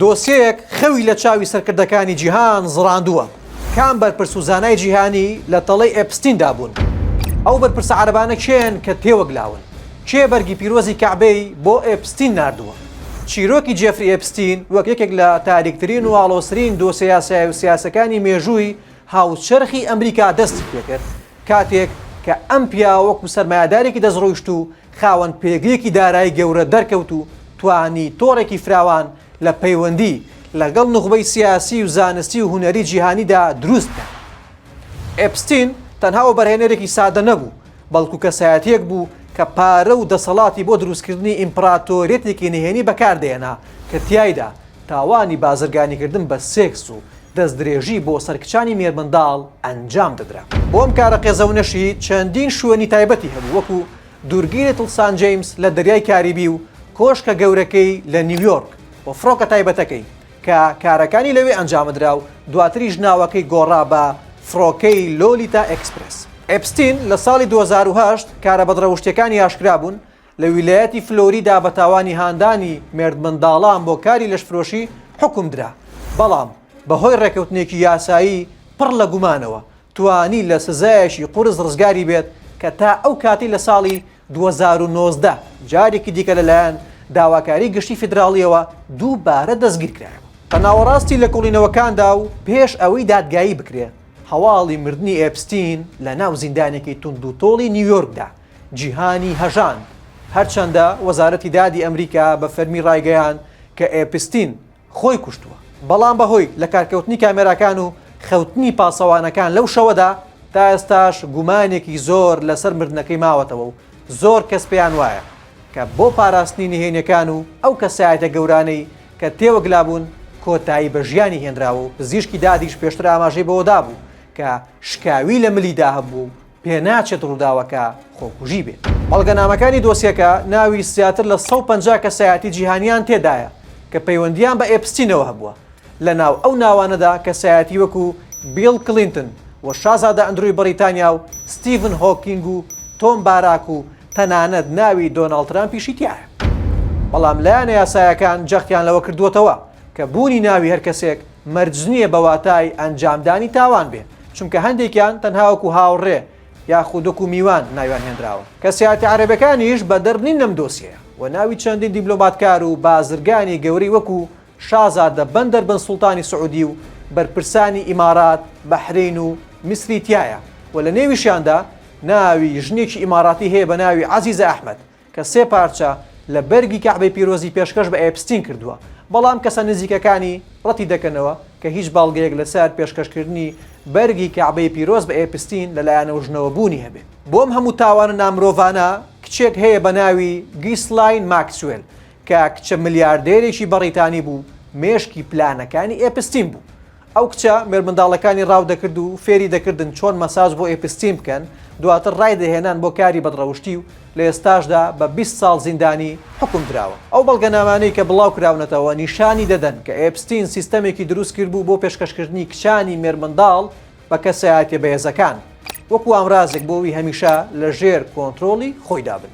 دۆسیەیەک خەوی لە چاوی سەرکردەکانی جیهان زڕاندووە، کام بەرپرس و زانای جیهانی لە تەڵەی ئێپستیندا بوون؟ ئەو بەرپرسە عەرەبانە کێن کە تێوەگلاون؟ کێ بەرگی پیرۆزی کەعبەی بۆ ئێپستین ناردووە؟ چیرۆکی جێفری ئێپستین وەک یەکێک لە تاریکترین و ئاڵۆزترین دۆسیە یاسایی و سیاسیەکانی مێژووی هاوچەرخی ئەمریکا دەستی پێکرد کاتێک کە ئەم پیاوە وەکو سەرمایەدارێکی دەستڕۆیشتوو خاوەن پێگەیەکی دارایی گەورە دەرکەوت و توانی تۆڕێکی فراوان لە پەیوەندی لەگەڵ نوخبەی سیاسی و زانستی و هونەری جیهانیدا دروست بکات. ئێپستین تەنها وەبەرهێنەرێکی سادە نەبوو، بەڵکو کەسایەتیەک بوو کە پارە و دەسەڵاتی بۆ دروستکردنی ئیمپڕاتۆریەتێکی نهێنی بەکاردەهێنا کە تیایدا تاوانی بازرگانیکردن بە سێکس و دەستدرێژی بۆ سەر کچانی مێرمنداڵ ئەنجام دەدرا. بۆ ئەم کارە قێزەونەشی چەندین شوێنی تایبەتی هەبوو وەکو دوورگەی لیتڵ سان جەیمس لە دەریای کاریبی و کۆشکە گەورەکەی لە نیویۆرک و فڕۆکە تایبەتەکەی کە کارەکانی لەوێ ئەنجامدرا و دواتریش ناوەکەی گۆڕا بە فڕۆکەی لۆلیتا ئێکسپرێس. ئێپستین لە ساڵی دوو هەزار و هەشت کارە بەدڕەوشتیەکانی ئاشکرا بوون لە ویلایەتی فلۆریدا بە تاوانی هاندانی مێردمنداڵان بۆ کاری لەشفرۆشی حوکم درا، بەڵام بەهۆی ڕێککەوتنێکی یاسایی پڕ لە گومانەوە توانی لە سزایەکی قورس ڕزگاری بێت کە تا ئەو کاتەی لە ساڵی دوو هەزار و نۆزدە جارێکی دیکە لەلایەن داواکاری گشتی فیدراڵییەوە دووبارە دەستگیرکرایەوە. بە ناوەڕاستی لێکۆڵینەوەکاندا و پێش ئەوەی دادگایی بکرێت، هەواڵی مردنی ئێپستین لەناو زیندانێکی توندوتۆڵی نیویۆرکدا جیهانی هەژاند، هەرچەندە وەزارەتی دادی ئەمریکا بە فەرمی ڕایگەیاند کە ئێپستین خۆی کوشتووە، بەڵام بەهۆی لەکارکەوتنی کامێراکان و خەوتنی پاسەوانەکان لەو شەوەدا، تا ئێستاش گومانێکی زۆر لەسەر مردنەکەی ماوەتەوە و زۆر کەس پێیان وایە کە بۆ پاراستنی نهێنیەکان و ئەو کەسایەتە گەورانەی کە تێوەگلابوون کۆتایی بە ژیانی هێنراوە و پزیشکی دادیش پێشتر ئاماژەی بەوەدابوو کە شکاوی لە ملیدا هەبووە و پێناچێت ڕووداوەکە خۆکوژی بێت. بەڵگەنامەکانی دۆسیەکە ناوی زیاتر لە سەد و پەنجا کەسایەتی جیهانییان تێدایە کە پەیوەندییان بە ئێپستینەوە هەبووە، لەناو ئەو ناوانەدا کەسایەتی وەکو بیڵ کلینتن و شازادە ئەندروی بەڕیتانیا و ستیڤن هۆکینگ و تۆم باراک و تەنانەت ناوی دۆناڵد ترامپیشی تیایە. بەڵام لایەنە یاسایەکان جەختیان لەوە کردووەتەوە کە بوونی ناوی هەر کەسێک مەرجنییە بە واتای ئەنجامدانی تاوان بێ، چونکە هەندێکیان تەنها وەکو هاوڕێ یاخود وەکو میوان ناویان هێنراوە. کەسایەتە عەرەبەکانیش بەدەر نین لەم دۆسیەیە و ناوی چەندین دیبلۆماتکار و بازرگانی گەورەی وەکو شازادە بەندەر بن سوڵتانی سعودی و بەرپرسانی ئیمارات، بەحرەین و میسری تیایە و لە نێویشیاندا ناوی ژنێکی ئیماراتی هەیە بە ناوی عەزیزە ئەحمەد. کە سێ پارچە لە بەرگی کەعبەی پیرۆزی پێشکەش بە ئێپستین کردووە، بەڵام کەسە نزیکەکانی ڕەتیدەکەنەوە کە هیچ بەڵگەیەک لەسەر پێشکەشکردنی بەرگی کەعبەی پیرۆز بە ئێپستین لە لایەنەوژنەوە بوونی هەبێت. بۆ ئەم هەموو تاوانە نامرۆڤانە، کچێک هەیە بە ناوی گیسلاین ماکسوێل کە کچە ملیاردێرێکی بەڕیتانی بوو، مێشکی پلانەکانی ئێپستین بوو. ئەو کچە مێرمنداڵەکانی ڕاو دەکرد و فێری دەکردن چۆن مەساج بۆ ئێپستین بکەن، دواتر ڕای دەهێنان بۆ کاری بەدڕەوشتی و لە ئێستاشدا بە بیست ساڵ زیندانی حوکم دراوە. ئەو بەڵگەنامانەی کە بڵاو کراونەتەوە نیشانی دەدەن کە ئێپستین سیستەمێکی دروست کردبوو بۆ پێشکەشکردنی کچانی مێرمنداڵ بە کەسایەتیە بەهێزەکان وەکو ئامرازێک بۆ وی هەمیشە لە ژێر کۆنترۆڵی خۆیدا بن.